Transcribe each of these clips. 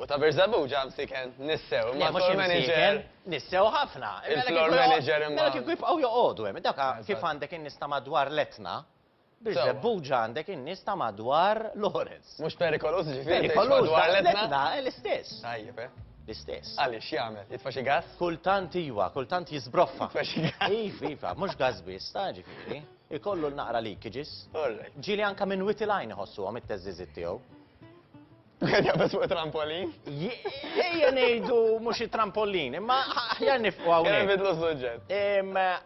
U ta' Birżebbuġ ġa msiken nissew, imma l-floor manager. Nissew ħafna. Il-floor manager imma. Mela kieku jibqgħu joqogħdu hemm, dak kif għandek in-nies ta' madwar l-Etna, Birżebbuġ għandek in-nies ta' madwar Lawrence. Mhux perikoluż ġifieri? Perikoluż madwar l-Etna l-istess. Tajjeb, eh? L-istess. Għaliex x'jagħmel? Jitfa' xi gass? Kultant iva, kultant jiżbroffa. Jitfa' xi gass. Iva, iva, mhux gass biss, ta' ġifieri. Ikollu l-naqra leakages. Ġieli anke minn witi lajn iħossuhom it-teżżiżiet tiegħu. Qed jaqbeż fuq it-trampolin? Ejja ngħidu mhux it-trampolin, imma aħjar nifqu hawnhekk. Kemm bidlu s-suġġett.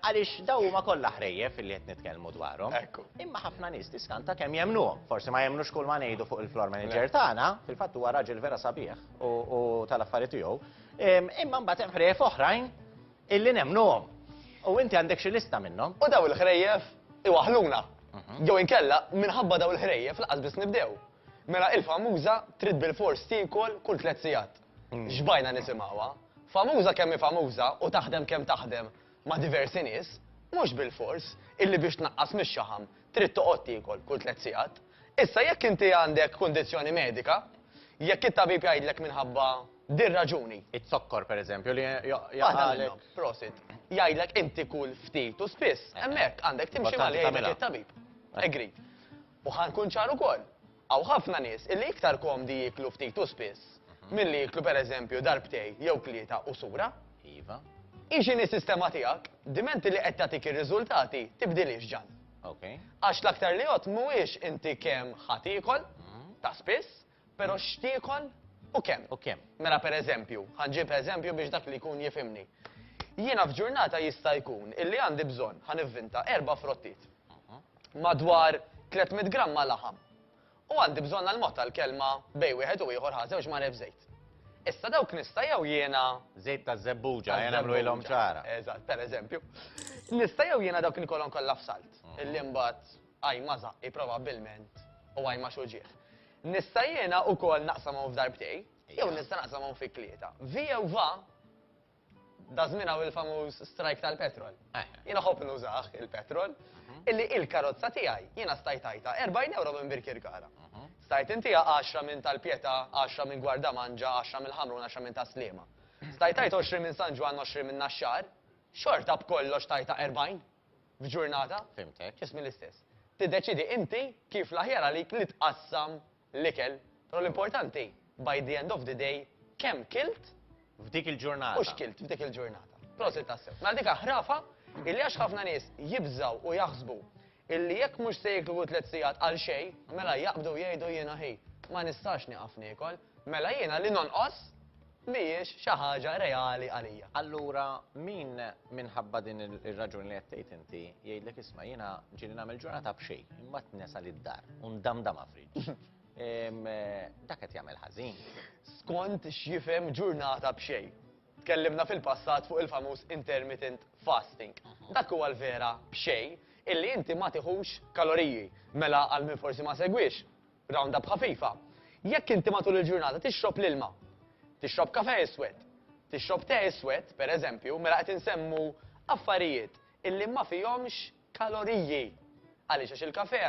Għaliex daw huma kollha ħrejjef li qed nitkellmu dwarhom. Ekku. Imma ħafna nies tiskanta kemm jemmnuhom. Forsi ma jemmnux kull ma ngħidu fuq il-floor manager tagħna, fil-fatt huwa raġel vera sabiħ u tal-affarijiet tiegħu. Imma mbagħad hemm ħrejjef oħrajn illi nemmnuhom. U inti għandek xi lista minnhom. U daw il-ħrejjef iwaħħluna. Jew inkella minħabba daw il-ħrejjef lanqas biss nibdew. Mela il-famuża trid bilfors tiekol kull tliet sigħat. Xbajna nisimgħuha. Famuża kemm hi famuża u taħdem kemm taħdem ma' diversi nies, mhux bilfors illi biex tnaqqas mix-xaħam trid toqgħod tiekol kull tliet sigħat. Issa jekk inti għandek kundizzjoni medika, jekk it-tabib jgħidlek minħabba dir-raġuni. Iz-zokkor pereżempju li jaqgħalek. Waħda minnhom, prosit. Jgħidlek inti kul ftit u spiss, hemmhekk għandek timxi ma' li jgħidlek it-tabib. Agreed. U ħa nkun ċar ukoll, hawn ħafna nies illi iktar komdi jieklu ftit u spiss milli jieklu pereżempju darbtej jew tlieta u sura. Iva. Hi x'inhi s-sistema tiegħek, diment illi qed tagħtik ir-riżultati, tibdilhiex ġan. Okej. Għax l-aktar li għodt mhuwiex inti kemm ħa tiekol, ta' spiss, Pero x'tiekol u kemm. U kemm. Mela per eżempju, ħa nġib eżempju biex dak li jkun jifhimni. Jiena f'ġurnata jista' jkun illi għandi bżonn, ħa nivvinta, erba' frottiet. Madwar 300 gramma laħam. U għandi bżonn għal mod tal-kelma bejn wieħed u ieħor ħa żewġ maref żejt. Issa dawk nista' jew jiena Żejt ta' żebbuġa, ejja nagħmluhilhom ċara. Eżatt, per eżempju. Nista' jew jiena dawk inkolhom kollha f'salt. Illi mbagħad Għaj ma' żaqqi probabbilment u għaj ma' xuġieħ. Nista' jiena wkoll naqsam hawn f'darbtej, jew nista' naqsam hawn fi tlieta. Via u va, da żmien hawn il-famuż strajk tal-petrol. Eh. Jiena ħobb nużah il-petrol, mhm. illi il-karozza tiegħi jiena stajt għajta 40 euro minn Birkirkara. Mhm. Stajt intiha 10 minn tal-Pieta, 10 minn Gwarda Manġa, 10 minn Ħamrun, 10 minn Taslima. Stajt għajt 20 minn San Ġwan, 20 minn Naxxar, xorta b'kollox tajta 40. f'ġurnata, ġismi l-istess. Tiddeċiedi inti kif l-aħjar għalik li tqassam l-ikel, però l-importanti by the end of the day kemm kilt f'dik il-ġurnata u x'kilt f'dik il-ġurnata. Prosit tassew. Mela dik ħrafa illi għax ħafna nies jibżaw u jaħsbu illi jekk mhux se jiklu tliet sigħat għal xejn, mela jaqbdu jgħidu jiena ħi, ma nistax nieqaf niekol, mela jiena li nonqos mhijiex xi ħaġa reali għalija. Allura min minħabba din ir-raġuni li qed tgħid inti jgħidlek isma' jiena ġieli nagħmel ġurnata b'xejn, imbagħad nesal id-dar u ndamdamha fridge, dak qed jagħmel ħażin. Skont x'jifhem ġurnata b'xejn. Tkellimna fil-passat fuq il-famuż intermittent fasting. Dak huwa l-vera b'xejn illi inti ma tiħux kaloriji. Mela għal min forsi ma segwiex, Roundup ħafifa, Jekk inti matul il-ġurnata tixrob l-ilma, tixrob kafè iswed, tixrob te iswed, per eżempju, mela qed insemmu affarijiet illi ma fihomx kaloriji. Għaliex għax il-kafè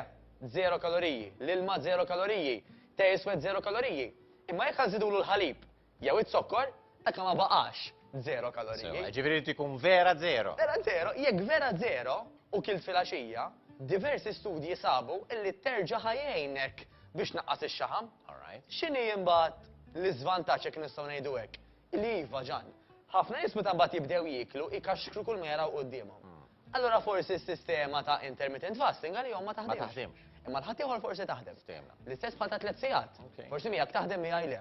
żero kaloriji, l-ilma żero kaloriji, te iswed żero kaloriji. Imma jekk ażżidulu l-ħalib, Jew iz-zokkor, hekk ma baqax zero kaloriji. Ġifieri jrid ikun vera zero. Vera zero, jekk vera zero u kilt filgħaxija, diversi studji sabu illi terġa' ħajgħinek biex naqqas ix-xaħam. X'inhi imbagħad l-iżvantaġġ jekk nistgħu ngħidu hekk? Li iva ġan. Ħafna nies meta mbagħad jibdew jieklu jkaxkru kull ma jaraw quddiemhom. Hmm. Allura forsi s-sistema ta' intermittent fasting għalihom ma taħdimx. Imma l-ħadd ieħor forsi taħdem. L-istess bħal ta' tliet sigħat. Forsi miegħek taħdem miegħi le.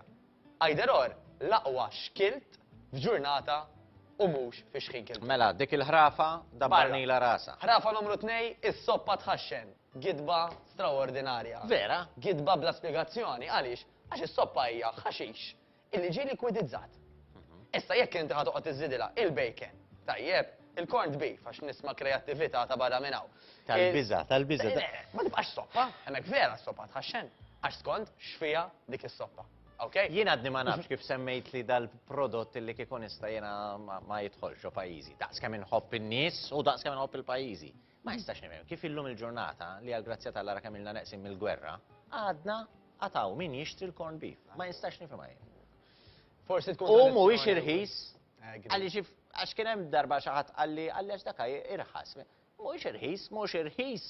Either or, l-aqwa xkilt f'ġurnata u mhux fi xħin kiltu. Mela, dik il-ħrafa dabbarnilha rasha. Ħrafa numru tnej, is-soppa tħaxxen. Gidba straordinarja. Vera? Gidba bla spjegazzjoni. Għaliex? Għax is-soppa hija ħaxix illi ġie likwidizzat. Issa jekk inti ħa toqgħod iżżidilha il-bacon, tajjeb, Il-corned beef, għax nisma' kreattività ta' barra minn hawn. Tal-biża', tal-biża'. Le, ma tibqax soppa, hemmhekk vera s-soppa tħaxxen, għax skond x'fiha dik is-soppa. Ok? Jien għadni ma nafx kif semmejtli dal-prodott li kieku nista' jiena ma jidħolx ġo pajjiżi. Daqs kemm inħobb in-nies u daqs kemm inħobb il-pajjiżi. Ma nistax nifhem kif illum il-ġurnata li għall-grazzja t'Alla ra kemm ilna neqsin mill-gwerra, għadna għad hawn min jixtri l-corned beef. Ma nistax nifhimha jien. Forsi tkun. U mhuwiex irħis Qalli xi għax kien hemm darba xi ħadd qalli qalli għax dak irħas. Mhuwiex irħis, mhux irħis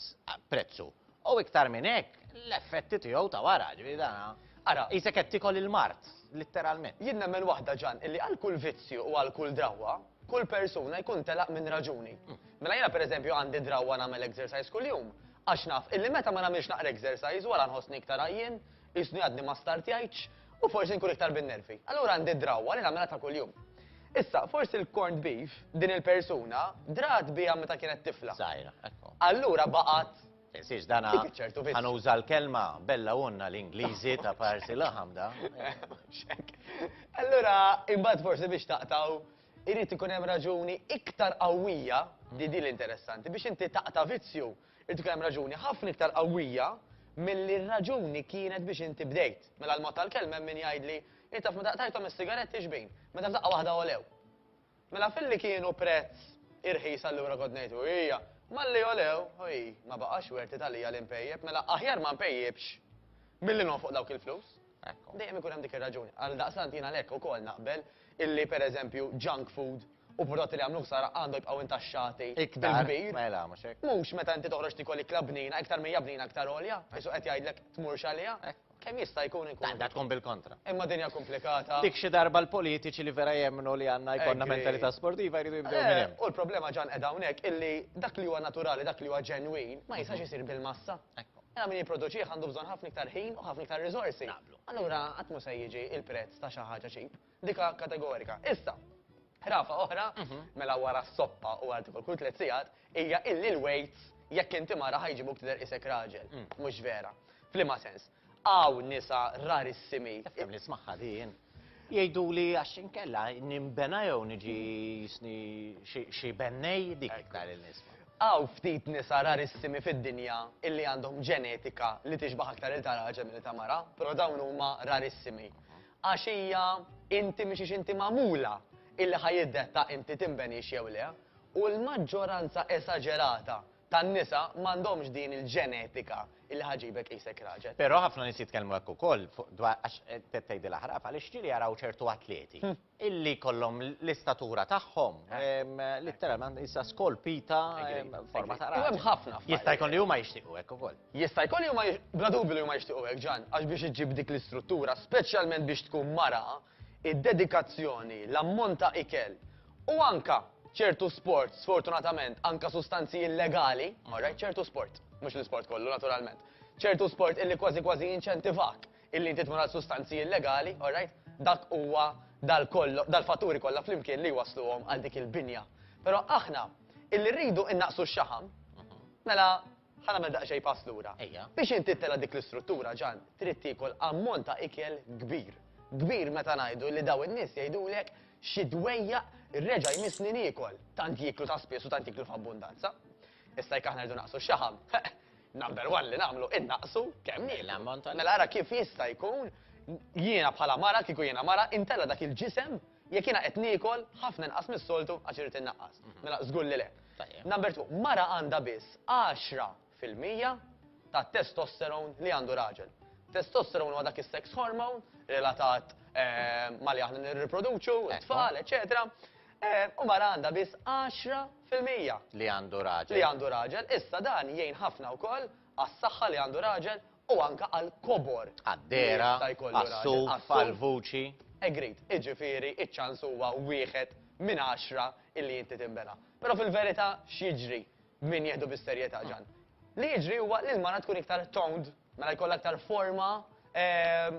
prezzu. U iktar minn hekk, l-effetti tiegħu ta' wara, ġifieri dana. Ara, qisek qed tikol il-mard, litteralment. Jien nemmen waħda Ġan, illi għal kull vizzju u għal kull drawwa, kull persuna jkun telaq minn raġuni. Mela jiena pereżempju għandi drawwa nagħmel exercise kuljum, għax naf illi meta ma nagħmilx naqra exercise wara nħossni iktar għajjien, Jisni għadni ma startjajtx u forsi nkun iktar bin-nervi. Allura għandi drawwa li nagħmilha ta' kuljum. Issa, forsi l-corned beef, din il-persuna, drat bija meta kienet tifla. Sajra, ekku. Allura baqat. Insiex dana. ċertu biss. Għanu uża l-kelma bella unna l-Ingliżi ta' parsi laħam da. Allura, imbagħad forsi biex taqtaw irrid ikun hemm raġuni iktar qawwija di di l-interessanti biex inti taqta vizzju Inti kellek raġuni ħafna iktar qawwija milli r-raġuni kienet biex inti bdejt. Mela l-mod tal-kelma hemm min jgħidli, Int taf meta qtajthom is-sigaretti xbin? Meta f'daqqa waħda għolew. Mela filli kienu prezz irħis allura kont ngħid u hija, malli għolew, u hi, ma baqax werti għalija li npejjep, mela aħjar ma npejjipx milli nonfoq dawk il-flus. Hekk, dejjem ikun hemm dik ir-raġuni. Għaldaqstant jien għalhekk ukoll naqbel illi pereżempju junk food u prodotti li jagħmlu ħsara għandhom jibqgħu intaxxati bil-kbir. Mela, mhux hekk. Mhux meta inti toħroġ tiekol ikla bnina, iktar mija bnina iktar għolja, isu qed jgħidlek tmurx għaliha. Kemm jista' jkun inkun. Għandha tkun bil-kontra. Imma dinja komplikata. Dik xi darba l-politiċi li vera jemmnu li għandna jkollna mentalità sportiva jridu jibdew minn hemm. U l-problema ġan qed hawnhekk illi dak li huwa naturali, dak li huwa ġenwin, ma jistax isir bil-massa. Mela min jipproduċih għandu bżonn ħafna iktar ħin u ħafna iktar riżorsi. Naqblu. Allura qatt mhu se jiġi il-prezz ta' xi ħaġa ċip. Dika kategorika. Issa, ħrafa oħra, mhm. mela wara s-soppa u għal kull tliet sigħat, hija illi l-weights jekk inti mara ħajġibuk tidher isek raġel. Mm. Mhux vera. Flima sens. Għaw nisa rarissimi. Fem nismaħħa din. Jgħiduli għax inkella ninbena jew niġi jisni xi bennej, dik iktar li nisma'. Hawn ftit nisa rarissimi fid-dinja illi għandhom ġenetika li tixbaħ aktar lil ta' raġel milli ta' mara, però dawn huma rarissimi. Għax hija inti mhix għax inti magħmula illi ħa jiddetta inti tinbenix jew le, u l-maġġoranza esaġerata tan-nisa m'għandhomx din il-ġenetika li ħa ġġibek qisek raġel. Però ħafna nies jitkellmu hekk ukoll fuq dwar għax qed tgħidilha ħrafa għaliex ġieli jaraw ċertu atleti illi jkollhom l-istatura tagħhom litteralment qisha skolpita f'forma ta' raġel. U hemm ħafna affarijiet. Jista' jkun li huma jixtiequ hekk ukoll. Jista' jkun li huma bla dubju li huma jixtiequ hekk Ġann għax biex iġġib dik l-istruttura speċjalment biex tkun mara id-dedikazzjoni, l-ammont ta' ikel u anka ċertu sports, sfortunatament, anka sustanzi illegali, alright, ċertu sport, mhux l-isport kollu naturalment, ċertu sport illi kważi kważi jinċentivak illi inti tmur għal sustanzi illegali, alright, dak huwa dal-fatturi kollha flimkien li jwassluhom għal dik il-binja. Però aħna illi rridu innaqqsu x-xaħam, mela, Ħa nagħmel daqsxejn pass lura. Ejja. Biex inti ttela' dik l-istruttura, Ġan, trid tiekol ammont ta' ikel kbir. Kbir meta ngħidu li dawn in-nies jgħidulek xi dwejjaq reġa' jmissni niekol, tant jieklu ta' spiss u tant jieklu f'abbundanza. Issa jekk aħna rridu naqsu x-xaħam, heq, number one li nagħmlu, innaqqsu kemm nieklu. L-ammont ta' l-ikel. Mela ara kif jista' jkun jiena bħala mara, kieku jiena mara, intella' dak il-ġisem Jekk jiena qed niekol ħafna inqas mis-soltu għax irrid innaqqas. Mela żgur li le. Number two, mara għandha biss għaxra fil-mija tat-testosterone li għandu raġel. Testosterone huwa dak is-sex hormone relatat eh, ma li aħna nirriproduċu, tfal, eċetera. Eh, u mara għandha biss 10% li għandu raġel. Li għandu raġel, issa dan jgħin ħafna wkoll għas-saħħa li għandu raġel u anke għall-kobor li Għad-dehra, jista' jkollu raġel. għas-suf, Għas-suf. għall-vuċi. Agreed. Jiġifieri ċ-ċans huwa wieħed minn għaxra illi inti tinbela. Però fil-verità x'jiġri b'min jieħdu bis-serjetà, Ġann? Li jiġri huwa li l-mara tkun iktar toned, mela jkollha aktar forma, ehm,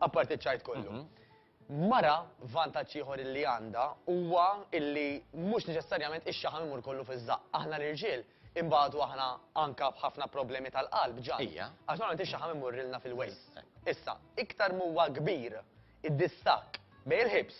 Apparti ċ-ċajt kollu. Mara vantaġġ ieħor illi għandha huwa illi mhux neċessarjament ix-xaħam imur kollu fiż-żaqq. Aħna l-irġiel imbagħadu aħna anka b'ħafna problemi tal-qalb ġa. Ija. Għax normalment ix-xaħam imurrilna fil-waist. Issa, iktar m'huwa kbir id-distakk bejn il-ħibs,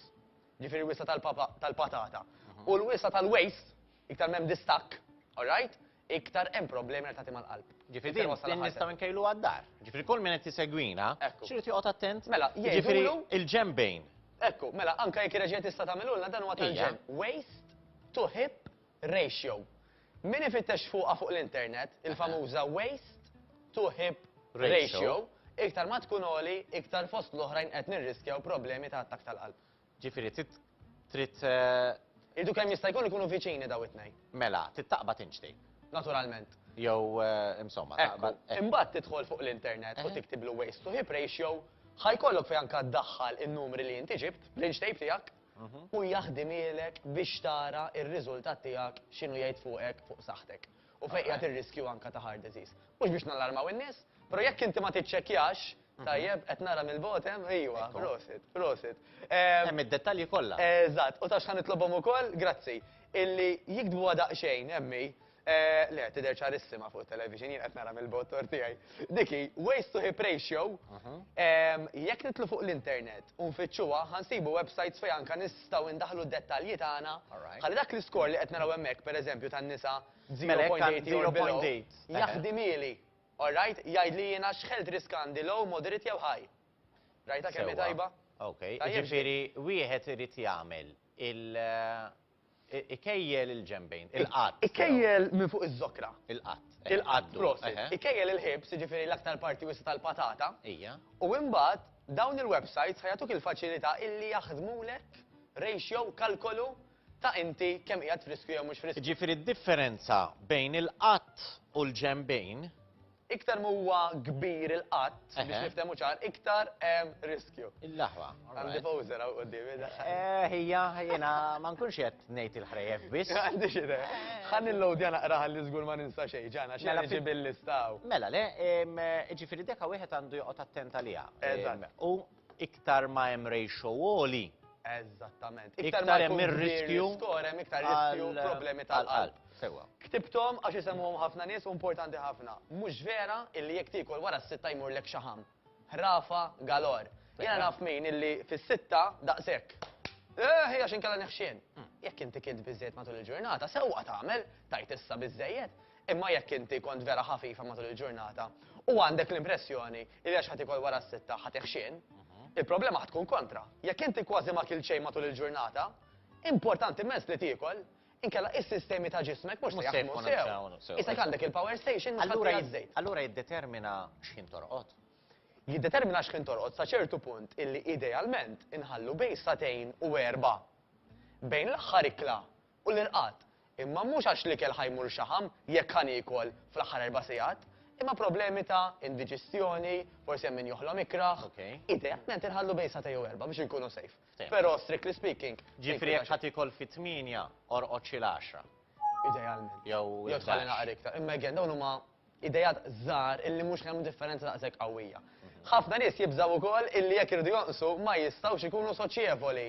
ġifieri l-wisa tal-patata, u l-wisa tal-waist, iktar m'hemm distakk, all right? iktar hemm problemi relatati mal-qalb. Ġifieri din din nistgħu nkejluha d-dar. Ġifieri kull min qed isegwina, x'irid joqgħod attent? Mela, jiġifieri il-ġenbejn. Ekku, mela anke jekk reġgħet tista' tagħmilulna dan huwa tal-ġenb. Waist to hip ratio. Min ifittex fuqha fuq l-internet, il-famuża waist to hip ratio, iktar ma tkun għoli, iktar fost l-oħrajn qed nirriskjaw problemi ta' attakk tal-qalb. Ġifieri trid trid eh, Irridu kemm jista' jkun ikunu viċini daw it-tnejn. mela, trid taqbad tinċti. Naturalment. Jew eh, insomma, Ekku, taqbad. eh, imbagħad tidħol fuq l-internet u Eh. tiktib l waste to hip ratio, ħajkollok fejn anka ddaħħal in-numri li inti ġibt, l-inch tape tiegħek, Mhm. u jaħdimilek biex tara ir-riżultat tiegħek x'inhu jgħid fuqek fuq saħħtek. U fejn qiegħed ir-riskju anka ta' heart disease. Mhux biex nallarmaw in-nies, però jekk inti ma tiċċekkjax, Tajjeb, qed nara mill-bogħod hemm, ejwa, Ekku. prosit, prosit. Em, Hemm id-dettalji kollha. Eżatt, u taf x'ħan nitlobhom ukoll, grazzi, illi jiktbuha daqsxejn, emmi, eh, le, tidher ċarissima fuq television, jien qed nara mill-bogħod tor tiegħi. Diki, waste to hip ratio, em, jekk nitlu fuq l-internet u nfittxuha, ħansibu websites fejn anka nistgħu ndaħlu d-dettalji tagħna. Alright. Ħalli dak l-iskor li qed naraw hemmhekk, pereżempju, tan-nisa Mela, hekk għand 0.80 or below, 0.8. jaħdimieli. All right, jgħidli jiena x'health risk għandi, low, moderate jew high. Rajtha kemm hi tajba? Sewwa. Ok. Jiġifieri wieħed irid jagħmel il ikejjel il-ġenbejn, il-qadd. Ikejjel minn fuq iż-żokra. Il-qadd. Il-qadd, prosit. Ikejjel il-ħibs, jiġifieri l-aktar parti wiesgħa tal-patata. Ija. U imbagħad dawn il-websites ħa jagħtuk il-faċilità illi jaħdmulek ratio, kalkolu, ta' inti kemm qiegħed friskju jew mhux friskju. Jiġifieri d-differenza bejn il-qatt u l-ġenbejn. Iktar ma huwa kbir il-qatt, biex niftehmu ċar, iktar hemm riskju. Il-laħwa. Għandi poser hawn quddiemi. Eh, hija, jiena ma nkunx qed ngħid il-ħrejjef biss. Għandi xi idea. Ħalli l-lowdja naqraħ li żgur ma ninsa xejn, ġana xi ġi bil-listaw. Mela le, ġifieri deka wieħed għandu joqgħod attent għaliha. Eżatt. U iktar ma hemm ratio għoli, Eżattament. Iktar ma hemm ir-riskju skor hemm iktar riskju problemi tal-qalb. Sewwa. Ktibthom għax isemmuhom ħafna nies u importanti ħafna. Mhux vera illi jekk tiekol wara s-sitta jmurlek xi ħamm. Ħrafa galor. Jiena naf min illi fis-sitta daqshekk. Eh, għax inkella neħxien. Jekk inti kilt biżejjed matul il-ġurnata, sewwa tagħmel, tajt issa biżejjed. Imma jekk inti kont vera ħafifa matul il-ġurnata u għandek l-impressjoni li għax ħa tikol wara s-sitta ħa tiħxien, il-problema ħa tkun kontra. Jekk inti kważi ma kilt xejn matul il-ġurnata, importanti immens li tiekol, inkella is-sistemi ta' ġismek mhux se jaħdmu sew. Isek għandek il-power station mhux ħadd jagħti ż-żejt. Allura jiddetermina x'ħin torqod? Jiddetermina x'ħin torqod sa ċertu punt illi idealment inħallu bejn sagħtejn u erbgħa bejn l-aħħar ikla u l-irqad, imma mhux għax l-ikel ħa jmur xaħam jekk ħa niekol fl-aħħar erba' sigħat, imma problemi ta' indiġistjoni, forsi hemm min joħlom ikrah. Idealment inħallu bejn sagħtejn u erbgħa biex inkunu safe. Però strictly speaking. Ġifieri jekk ħa tiekol fit-tmienja, orqod xi l-għaxra. Idealment. Jew tħalli naqra iktar. Imma again, dawn huma ideat żgħar illi mhux ħa jagħmlu differenza daqshekk qawwija. Ħafna nies jibżgħu wkoll illi jekk iridu jonqsu ma jistgħux ikunu soċjevoli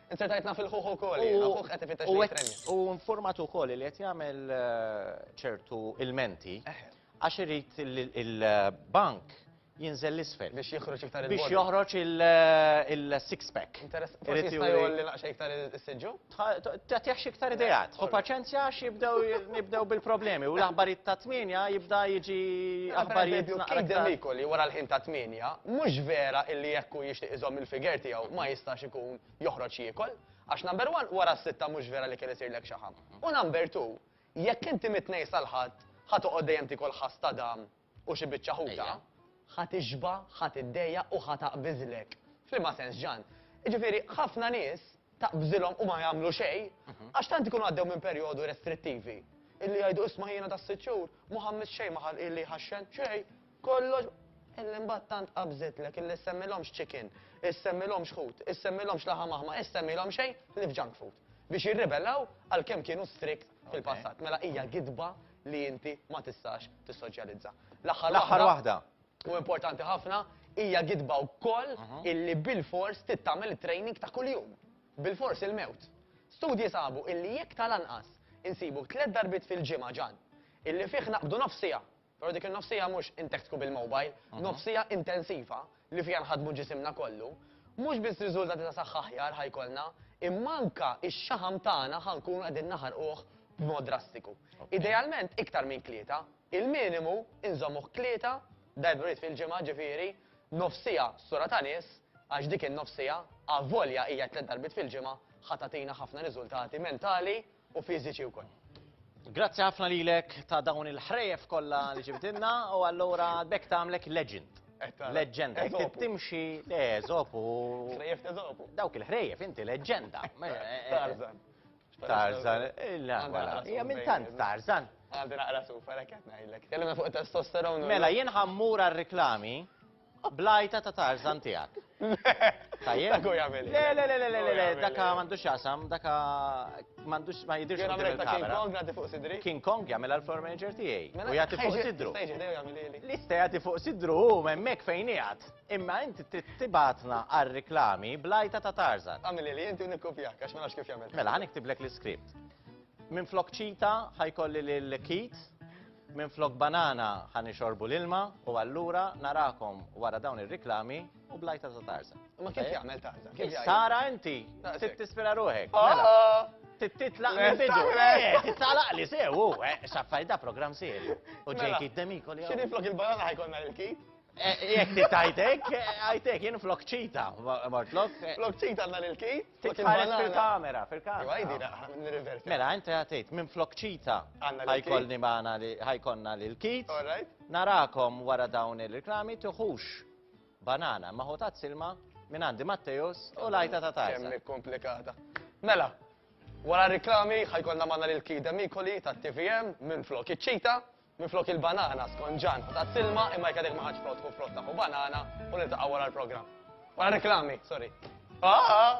Int se tgħidna fil-ħuħ ukoll, jiena ħuħ qed ifittex li jitreni. U informat ukoll li qed jagħmel eh, ċertu ilmenti eh. għax irid il-bank jinżel l-isfel. Biex joħroġ iktar il-body. Biex joħroġ eh, il-six pack. Forsi jista' jolli naqxa iktar il-sidġu? Ta' tiħx iktar idejat. U paċenzja għax jibdew bil-problemi u l-aħbarijiet ta' tminja jibda jiġi aħbarijiet. Kejden li wara l-ħin ta' tminja, mhux vera illi jekku jixtieq iżomm il-figer tiegħu ma jistax ikun joħroġ jiekol, għax number one wara s-sitta mhux vera li kien isirlek xaħam. U number two, jekk inti mit-tnejn sal-ħadd ħa toqgħod dejjem tikol ħass ta' dam u xi biċċa ħuta, ħa tixba, ħa tiddejja u ħa taqbiżlek. F'liema sens ġan. Jiġifieri ħafna nies taqbżilhom u ma jagħmlu xejn mhm. għax tant ikunu għaddew minn perjodu restrittivi illi jgħidu isma' jiena tas-sitt xhur ma ħammis xejn ma illi ħaxxen xejn Kollox illi mbagħad tant qabżitlek illi ssemmilhomx chicken, issemmilhomx ħut, issemmilhomx laħam aħmar, issemmilhom xejn li f'junk food. Biex jirribellaw għalkemm kienu strict fil-passat. Mela hija gidba li inti ma tistax tissoċjalizza. L-aħħar waħda. L-aħħar waħda. U importanti ħafna, hija gidba wkoll illi bilfors trid tagħmel it-training ta' kuljum. Bilfors il-mewt. Studji sabu illi jekk tal-anqas insibu tliet darbiet fil-ġimgħa ġann illi fih naqbdu nofs siegħa Però dik in-nofs siegħa mhux intektku bil-mobile, nofs siegħa intensiva li fiha nħaddmu ġisimna kollu, mhux biss riżultati ta' saħħa aħjar ħa jkollna, imma anke x-xaħam tagħna ħa nkunu qegħdin naħarquh b'mod drastiku. Idealment iktar minn tlieta, il-minimu inżommuh tlieta darburiet fil-ġimgħa, ġifieri, nofs siegħa sura ta' nies, għax dik in-nofs siegħa, avolja hija tliet darbiet fil-ġimgħa, ħa tagħtina ħafna riżultati mentali u fiżiċi wkoll. Grazzi ħafna lilek ta' dawn il-ħrejef kollha li ġibdilna u allura bekk tagħmlek legend. Leġenda, jekk timxi le żob u. Ħrejef ta' żob. Dawk il-ħrejef inti leġenda. Tarzan. Tarzan, illa, wala. Hija minn tant Tarzan. Għandi naqra sufa, lek qed ngħidlek. Tellem fuq testosteron. Mela jien ħammur għar-reklami. Bl-għajta ta' Tarzan tiegħek. Tajjeb? Dak hu jagħmel. Le, le, le, le, le, daka m'għandux x'jaqsam, daka m'għandux ma jidirx qudiem il-kamera. King Kong jagħti fuq sidri? King Kong jagħmilha l-floor manager tiegħi. Mela, u jagħti fuq sidru. Lista jagħti fuq sidru hu hemmhekk fejn qiegħed. Imma inti trid tibatna għar-reklami bl-għajta ta' Tarzan. Għamilili inti u nikkupjak għax ma nafx kif jagħmel. Mela, ħa niktiblek l-iskript. Minflok ċita ħa jkolli lil Keith, minflok banana ħa nixorbu l-ilma u allura narakom wara dawn ir-riklami u blajta ta' Tarzan. Ma kif jagħmel Tarzan? Kif jgħid? Sara inti, trid tispira ruħek. Oh, mela. oh. Trid titlaq minn bidu. Nistaqlek. Eh, Titlaq li sew, u, eh, xaffaj da program serju. U Mela. ġejki d-demiko li Xini flok il-banana ħajkonna l-kit? Jekk li tajtek, għajtek, jien flok ċita, mortlok. Flok ċita għanna l-kit? Titħares fil-kamera, fil-kamera. Għaj, dina, nirrivert. Mela, inti għatejt, minn flok ċita, ħajkolni maħna li ħajkonna l-kit. Narakom wara dawn il-reklami, tuħux banana, maħu ta' silma, minn għandi Matteus u lajta ta' tajsa. Kemmi komplikata. Mela, wara reklami, ħajkonna maħna l-kit demikoli ta' TVM, minn flok ċita, Minflok il-banana, skont Ġan, ħu tazz-ilma imma jekk għadek ma ħadtx frott ħu frott ta' ħu banana u niltaqgħu wara l-programm. Wara reklami, sorry. Ah!